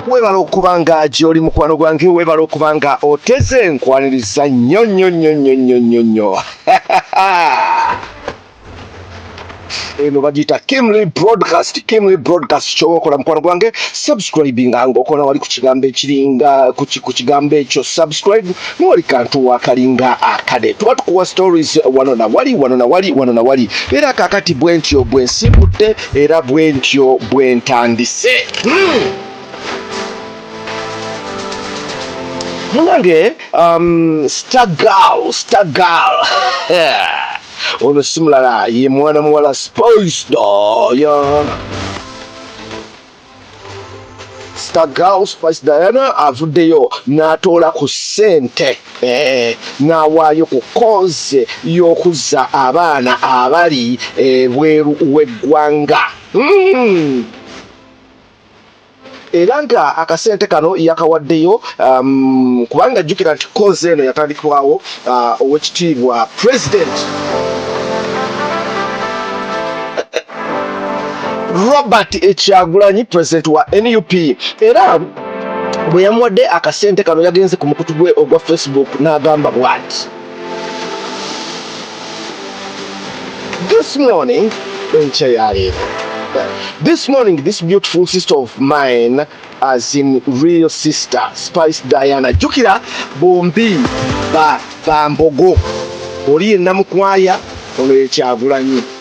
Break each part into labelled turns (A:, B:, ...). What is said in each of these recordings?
A: webala okuba nga gyoli mukwano gwange webala okuba nga oteze nkwaniriza nnyo nnyo nnyo nnyo nnyo nnyo nnyo eno bagiyita kimly broadcast kimly broadcast kyoba okola mukwano gwange subscribinga nga okola wali ku kigambo ekiringa ku kigambo ekyo subscribe Noli kantu wakalinga akade tuba tukuwa stories wano na wali wano na wali wano na wali era kakati bwentyo bwensimbudde era bwentyo bwentandise hmm. munange um, stagal stagal ono simulala ye mwana muwala spoisdo yeah. Star Girl Spice Diana avuddeyo n'atoola ku ssente eh, n'awaayo ku koze y'okuzza abaana abali ebweru eh, w'eggwanga mm. era nga akasente kano yakawaddeyo um, kubanga jjukira nti koze eno yatandikwawo uh, owekitiibwa president Robert Ekyagulanyi president wa nup era bwe yamuwadde akasente kano yagenze ku mukutu gwe ogwa facebook n'agamba bwati this morning enkya yaleero this morning this beautiful sister of mine as in real sister spice diana jukira bombi bambogo oli yenamukwaya ono yekyagulanyi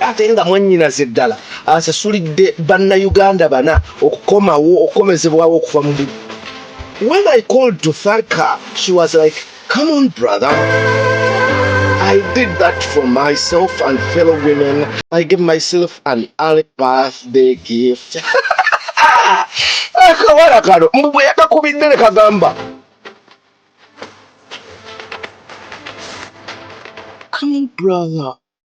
A: ate nga mwannyinaze ddala asasulidde Bannayuganda bana okukomawo okukomezebwawo okuva mu bu When I called to thank her, she was like, come on brother. I did that for myself and fellow women. I gave myself an early birthday gift. akawala kano mbu bwe yakakubidde ne kagamba come brother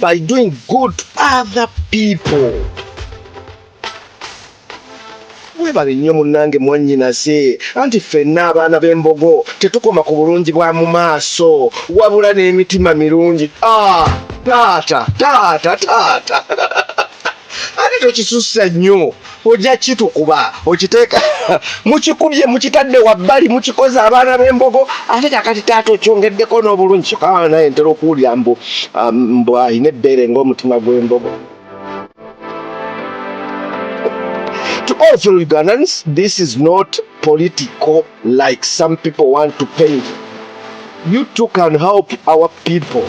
A: by doing good to other people. Webale nnyo munnange mwannyinaze, anti ffenna abaana b'Embogo tetukoma ku bulungi bwa mu maaso wabula n'emitima mirungi. Ah! Taata, taata, taata ate tokisussa nnyo. ojja kitukuba okiteeka mukikubye mukitadde wabbali mukikoze abaana b'embogo ate kakati taata okyongeddeko n'obulungi kyoka abaana naye ntera okuwulira mbu um, mbu alina ebbeere ng'omutima gw'embogo to all fellow ugandans this is not political Like some people want to pay you too can help our people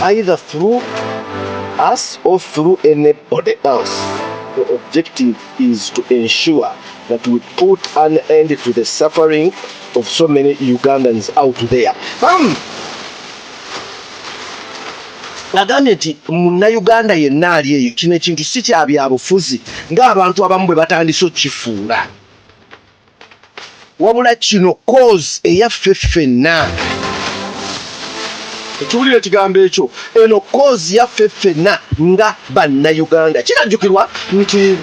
A: either through us or through anybody else. The objective is to ensure that we put an end to the suffering of so many Ugandans out there. Um, agambye nti munnayuganda yenna ali eyo kino ekintu si kya byabufuzi ng'abantu abamu bwe batandise okukifuula Wabula kino cause eyaffe ffenna. Okiwulira ekigambo ekyo? Eno cause yaffe ffenna nga Bannayuganda. Kinajjukirwa nti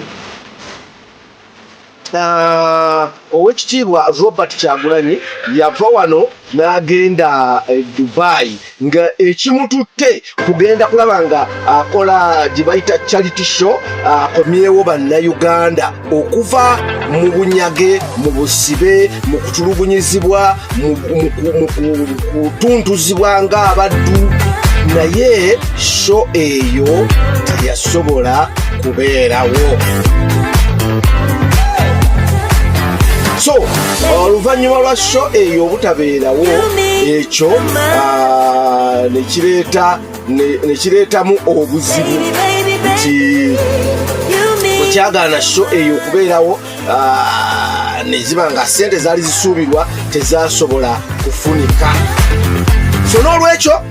A: Owekitiibwa Robert Kyagulanyi yava wano n'agenda e Dubai nga ekimututte kugenda kulaba nga akola gye bayita charity show akomyewo bannayuganda okuva mu bunyage mu busibe mu kutulugunyizibwa mu kutuntuzibwa ng'abaddu naye sho eyo teyasobola kubeerawo so oluvannyuma lwa sho eyo obutabeerawo ekyo ah, nekireetamu obuzibu nti okyagaana sho eyo okubeerawo ah, neziba nga sente zaali zisuubirwa tezasobola kufunika so n'olwekyo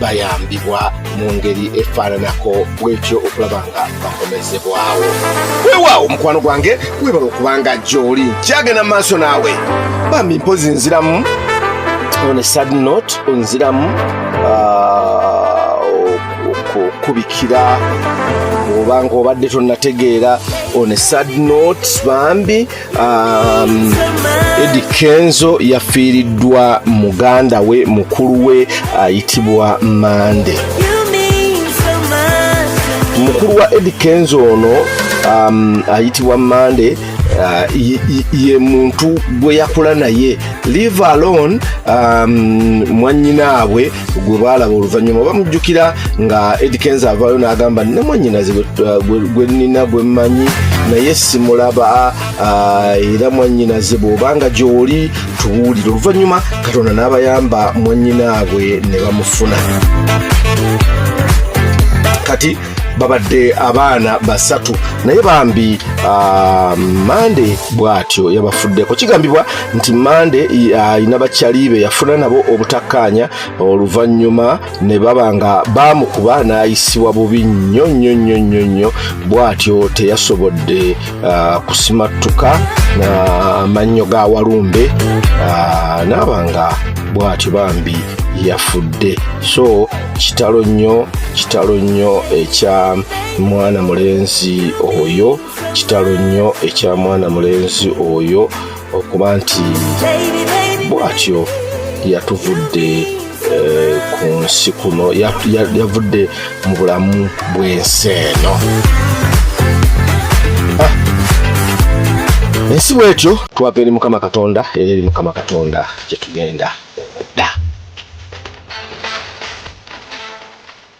A: bayambibwa mu ngeri efaananako bwetyo okulaba nga bakomezebwawo weewaawo mukwano gwange webala okubanga gy'oli kyagenda mu maaso naawe bambi mpozi nziramu on a sad note onziramu ah, okubikira oba nga obadde tonategeera on a sad note bambi uh, Um, edi kenzo yafiiriddwa muganda we mukulu we ayitibwa mande mukulu wa edi kenzo ono um, ayitibwa mande uh, ye muntu gwe yakula naye live alone um, mwanyinaabwe gwe baalaba oluvannyuma oba mujjukira nga edi kenza avaayo n'agamba ne mwannyinaze gwe nina gwe mmanyi naye simulaba era mwannyinaze bw'obanga gy'oli tubuulire oluvannyuma katonda n'abayamba mwannyinaabwe ne bamufuna kati babadde abaana basatu naye bambi ah, mande bwatyo yabafuddeko kigambibwa nti mande alina ah, bakyali be yafuna nabo obutakkaanya oluvannyuma ne baba nga baamukuba n'ayisibwa bubi nnyo nnyo nnyo nnyo nnyo bwatyo teyasobodde uh, kusimattuka amannyo uh, ga walumbe uh, naaba nga bw'atyo bambi yafudde so kitalo nnyo kitalo nnyo ekya mwana mulenzi oyo kitalo nnyo ekya mwana mulenzi oyo okuba nti bwatyo yatuvudde eh, ku nsi kuno yavudde mu bulamu bw'ensi eno ah. ensi bwetyo twava eri mukama katonda era eri mukama katonda gyetugenda